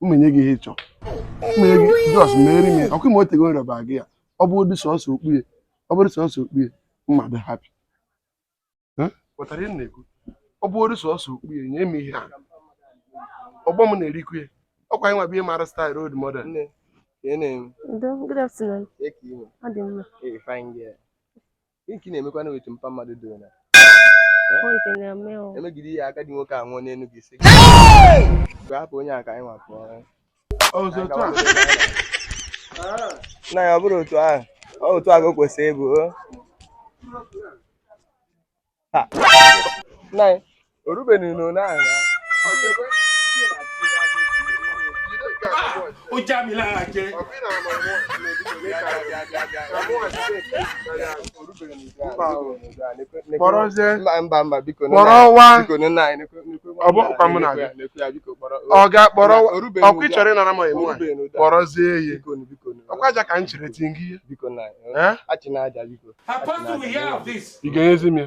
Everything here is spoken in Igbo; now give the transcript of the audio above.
mma enye gị ihe ị chọ mma enye gị just meere m ya ọkwa ị ma o tego m rịọba gị ya ọ bụrụdị sọsọ okpue ọ bụrụ sọsọ okpue mma adị happy ị ghọtara ihe m na-ekwu ọ bụrụ sọsọ okpue nye m ihe a ọgbọ m na-erikwu ya ọkwa anyị nwa bụ ihe mara style role model Nne, ka ị na-eme? Ndo, good afternoon. Eke ime. Ọ dị mma. Ee, fine girl. Gịnị ka ị na-emekwanụ wetu mpa mmadụ doro na-emegide ihe agadi nwoke a anwụọ n'elu gị sị hapụ onye a ka anyị nwa pụọ nna ya ọ bụrụ otu ahụ ọ otu ahụ kwesịrị ịbụ nna ya ó já mi lára jẹ. kpọrọ nze kpọrọ wa ọ bụ ọkwa mụ na-abịa ọ ga-akpọrọ ọkwa ị chọrọ ịnara m emu a kpọrọzie ya ọkwa aja ka m chere tingi ya ị ga-enyezi m ya